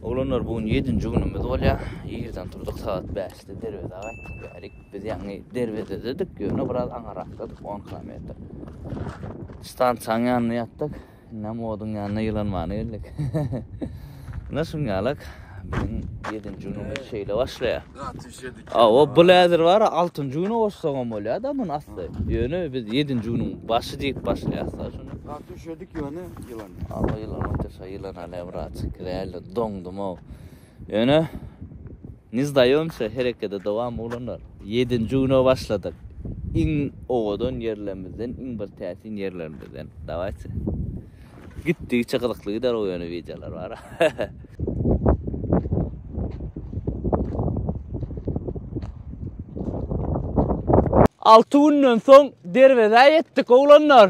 Oglanlar bu gün ýedinji günümiz bolýar. Irden turdyk, sagat bäşde derwezä gaýtdyk bärik. Biz ýaňy derwezededik, ýöne biraz aňyrakladyk, on kilometr. Stansiýanyň ýanynda ýatdyk. Indem oduň ýanyna ýylanmana geldik. Ine şuňňalak biziň ýedinji günümiz şeýle başlaýar. Hawa, bu häzir bar ya altynjy güni goşsagam bolýar da muny asly. Ýöne biz ýedinji günüň başy diýip başlaýas da şuny. Gaty üşedik ýöne ýylan. Hawa ýylan otýa şa ýylan alýa brat. Giräýeli doňdum-ow. Ýöne ne zdaýomsa herekede dowam oglanlar. Ýedinji güne başladyk. Iň owadan ýerlerimizden iň bir täsin ýerlerimizden. Dawaýtsy. Gitdigiçe gyzykly gider o ýöne wideolar bar. Alty günden soň derwezä ýetdik oglanlar.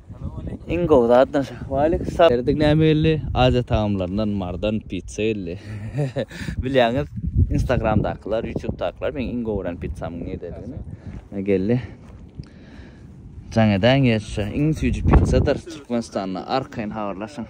Iň gowy zatdan şu. Waleýkim salam. Erdik näme geldi? Aziýa tagamlaryndan mardan pitsa geldi. Bilýäňiz, Instagramdakylar, Ýutubdakylar meň iň gowy gören pitsamyň nirededigini. Ine geldi. Jaň edäýiň ýerşa. Iň süýji pitsadyr Türkmenistanda. Arkaýyn habarlaşyň.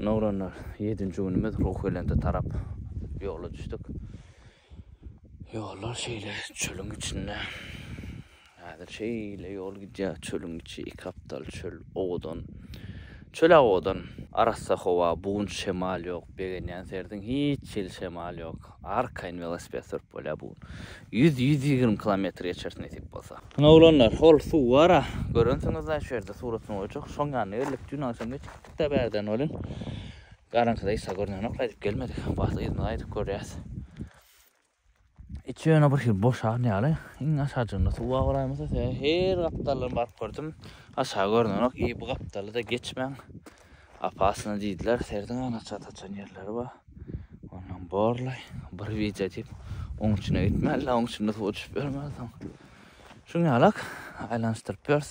Ine oglanlar, ýedinji günümiz Ruhbelende tarap ýola düşdük. Ýollar şeýle çölüň içinde. Häzir şeýle ýol gidýär, çölüň içi, iki gapdal çöl, owadan. Çöl-ä owadan. Arassa howa, bugun şemal ýok, begenýän serdiň hiç hili şemal ýok. Arkaýyn welosiped sürüp bolýar bu gün. Ýüz, ýüz ýigrimi kilometr geçeris nesip bolsa. Ine oglanlar, hol suw bar-a, görensiňiz-dä, şu ýerde suratyny goýjak. Şoň ýanyna geldik, dün agşam geçipdik. Gapda bärden welin, garaňkyda Isa görnenok, gaýdyp gelmedik. Bu wagt yzyna gaýdyp görýäs. Içi ýöne birhili boşan ýaly. Iň aşajygynda suwa garaýmysa, her gapdaldan baryp gördüm. Aşagy görnenok. Eý, bu gapdaly-da geçmäň. Opasny diýdiler. Serediň ýaly açyga saçan ýerleri bar. Ondan borlaý. Bir wideo diýip, oň içine gitmäli-le, oň içinde suwa düşüp ýörmäli soň. Şuň ýalak, aýlanyşdyryp ýörüs.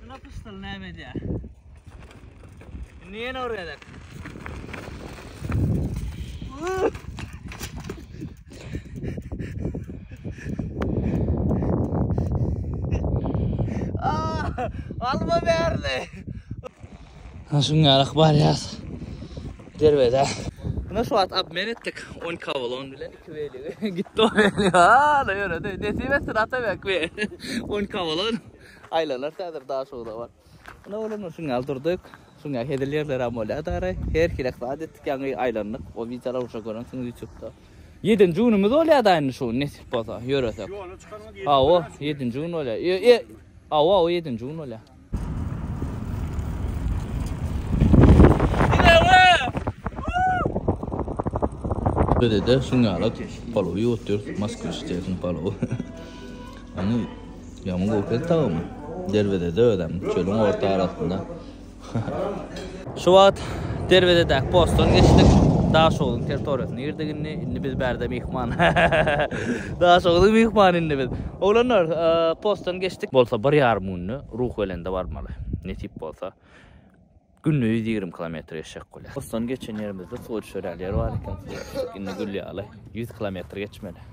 Şuna pyşdyl näme edýär? Indi ýene urýarlar. Alma berdi. Ha şunga arak baryas. Derwede. Buna şu wagt abmen etdik 10 kavlon bilen. Tüwelege gitdi o weli. Hala ýöredi. Nesip etsin Atabek be. On kawalan. Aýlanar häzir daşuda bar. Ine oglumlar şuň ýaly durdyk. Şuň ýaly hezil ýerler hem bolýar dara. Her hilek zat etdik ýaňy aýlandyk. O wideolary uşa görensiňiz ýutubda. Ýedinji günümiz bolýar da indi şu nesip bolsa ýöresek. Ýola çykaryňyz ýedinji günümiz. Hawa, ýedinji gün bolýar. Ýe, ýe. Hawa, hawa ýedinji gün bolýar. Böyle de şun ýala palowy ýuwutýarys, Moskwiç diýersiň palowy. Ony ýaman gowy keltagym. Derwezede özem, çölüň orta arasynda. Şu wagt derwezedäki postdan geçdik. Daşogluň territoriýasyna girdik indi. Indi biz bärde myhman. Daşogluň myhmany indi biz. Oglanlar, e, postdan geçdik. Bolsa bir ýarym günde Ruhbelende barmaly. Nesip bolsa günde ýüz ýigrimi kilometr geçjek bolýar. Postdan geçen ýerimizde suwa düşer ýaly ýer bar eken. Suwa düşdük. Indi gülýär ýaly ýüz kilometr geçmeli.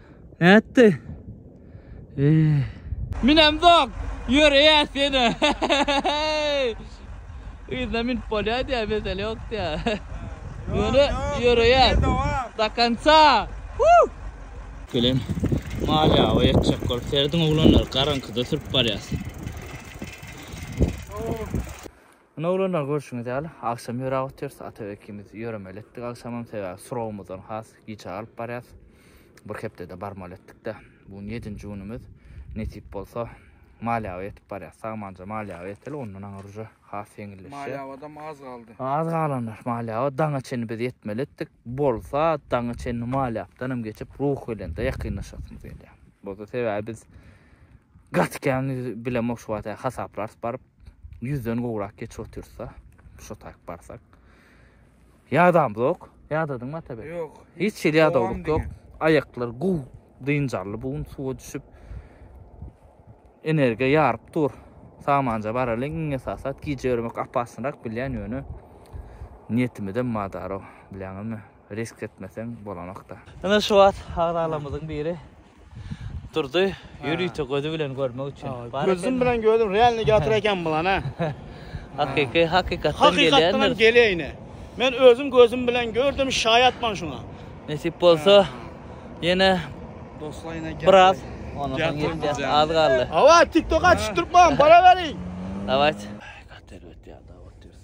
Nätdi? Eee. Münemzok! Ýör eýe sene. Yzda münüp bolýar diýýär, mesele ýok diýýär. Ýöne ýör eýe. Do konca! Huh! Gelen mal ýawa ýetjek bolup serediň oglanlar, garaňkyda sürüp barýas. Ine oglanlar görşüňiz ýaly agşam ýöräp otyrys Atabek ikimiz ýöremeli etdik agşamam sebäbi surowymyzdan has giç alyp barýas bir hepdede barmaly etdikde bu gün ýedinji günümiz nesip bolsa Malýawa ýetip barýas sagmanja Malýawa ýeteli ondan aňyr uje has ýeňilleşýär Malýawadam az galdy. Az galanlar Malýawa daňa çenli biz ýetmeli etdik bolsa daňa çenli Malýapdanam geçip Ruhbelende ýakynlaşasymyz gelýär bolsa sebäbi biz gaty kän bilemok şu wagta hasaplarys baryp ýüzden gowrak geçip otyrsa, şo taýyp barsak. Ýadam zok, ýadadyň mata be. Ýok. Hiç şeýle ýadawlyk ýok. Aýaklar guw, dynjarly bu gün suwa düşüp. Energiýa ýaryp dur. Samanja baralyň, iň esasat gije ýörmek apasynrak bilýän ýöne. Niýetimizem madaro, bilýäňizmi? Risk etmeseň bolanokda. Ine şu wagt agzalarymyzyň biri durdy. Ýörite gözi bilen görmek üçin. Gözüm bilen gördüm, realny ýatyr eken bulan ha. Hakyky, hakykatdan gelýändir. Hakykatdan gelýäýne. Men özüm gözüm bilen gördüm, şaýatman şuňa. Nesip bolsa ýene dostlar ýene biraz ondan soň ýetýär. Az galdy. Hawa, TikTok-a düşüp durupman, baraweriň. Dawayt. Gaty elbet ýa, dawat diýeris.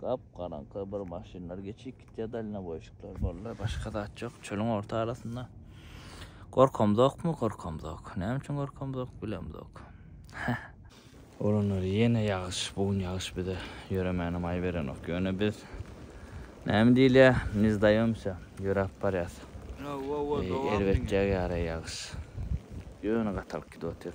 Gap garaňky bir maşynlar geçip gitýär dalnoboýşikler boldy başga zat ýok çölüň orta arasynda gorkamzokmy gorkamzok näme üçin gorkamzok bilemzok Olanlar ýene ýagyş bu gün ýagyş bize ýöremäne maý berenok ýöne biz näme diýilýär ne zdaýomsýa ýöräp barýas erbetjek ýaly ýagyş ýöne gatalyk gidip otyr.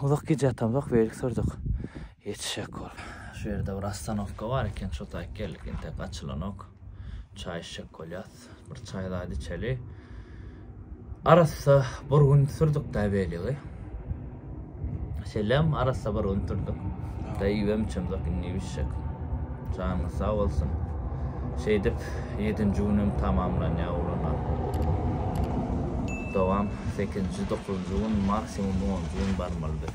Uzak gije ýatamzok beýlik sürdük. Etşekgol. Şu ýerde bir ostanowka bar eken şo taýyk geldik entek açylanok. Çaý içjek bolýas. Bir çaý zady içeli. Arassa bir gün sürdükdä beýligi. Şeýlem arassa bir gün sürdük. Da iýibem içemzok indi iýip içjek. Janyňyz sag bolsun. Şeýdip ýedinji günem tamamlanýar ugruna. Dowam, Sekizinji, dokuzynjy gün, maksimum onunjy gün barmaly biz.